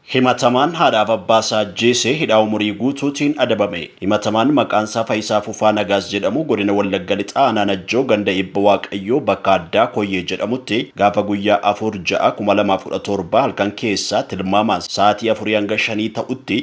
Himatamaan haadhaaf abbaasaa ajjeese hidhaa umurii guutuutiin adabame. Himatamaan maqaansaa Fayisaa Fufaa Nagaas jedhamu Godina Wallagga Lixaa Aanaa Najjoo ganda Eebba Waaqayyoo bakka addaa Koyyee jedhamutti gaafa guyyaa 4 6 2017 halkan keessaa tilmaamaan sa'aatii 4 hanga 5 ta'utti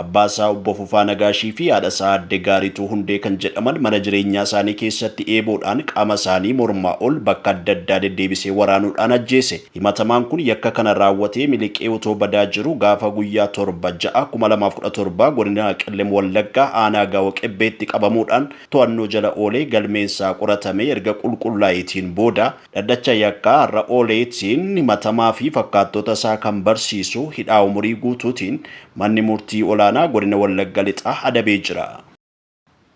abbaasaa Obbo Fufaa Nagaashiifi haadhasaa Aadde Gaarituu Hundee kan jedhaman mana jireenyaasaanii keessatti eeboodhaan qaamasaanii mormaa ol bakka adda addaa deddeebisee waraanuudhaan ajjeese. Himatamaan kun yakka kana raawwatee miliqee otoo badaa jiru gaafa guyyaa 7, 6, 2017 godina Qellem Wallaggaa aanaa Gaawo Qebbeetti qabamuudhaan to'annoo jala oolee galmeen isaa qoratamee erga qulqullaa'eetiin booda dhaddacha yakkaa har'a ooleetiin himatamaa fi fakkaattoota isaa kan barsiisu hidhaa umurii guutuutiin manni murtii olaanaa godina Wallagga Lixaa adabee jira.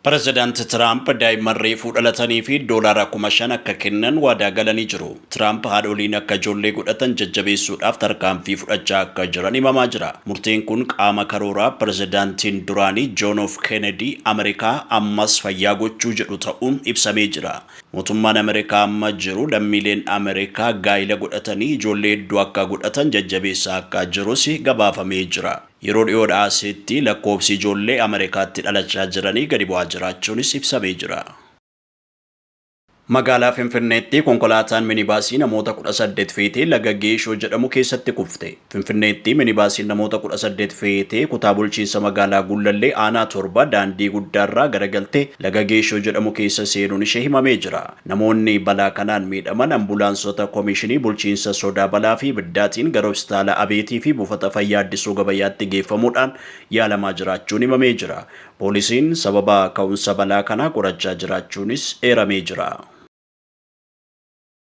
Pirezidaanti Tiraamp daa'imman reefuu dhalataniif doolaara kuma shan akka kennan waadaa galanii jiru. Tiraamp haadholiin akka ijoollee godhatan jajjabeessuudhaaf tarkaanfii fudhachaa akka jiran himamaa jira. Murteen kun qaama karoora pirezidaantiin duraanii John F. Kennedy Ameerikaa ammas fayyaa gochuu jedhu ta'uun ibsamee jira. Mootummaan Ameerikaa amma jiru lammiileen Ameerikaa gaa'ila godhatanii ijoollee hedduu akka godhatan jajjabeessaa akka jirus gabaafamee jira. Yeroo dhiyoodhaa asitti lakkoofsi ijoollee Amerikaatti dhalachaa jiranii gadi bu'aa jiraachuunis ibsamee jira. Magaalaa Finfinneetti konkolaataan minibaasii namoota kudha saddeet feetee laga Geeshoo jedhamu keessatti kufte. Finfinneetti minibaasiin namoota kudha saddeet feetee kutaa bulchiinsa magaalaa Gullallee aanaa torba daandii guddaarraa garagaltee laga Geeshoo jedhamu keessa seenuun ishee himamee jira. Namoonni balaa kanaan miidhaman ambulaansota Komishinii Bulchiinsa Sodaa Balaa fi Ibiddaatiin gara Hositaala Abeetii fi Buufata Fayyaa Addisuu Gabayaatti geeffamuudhaan yaalamaa jiraachuun himamee jira. Poolisiin sababa ka'umsa balaa kanaa qorachaa jiraachuunis eeramee jira.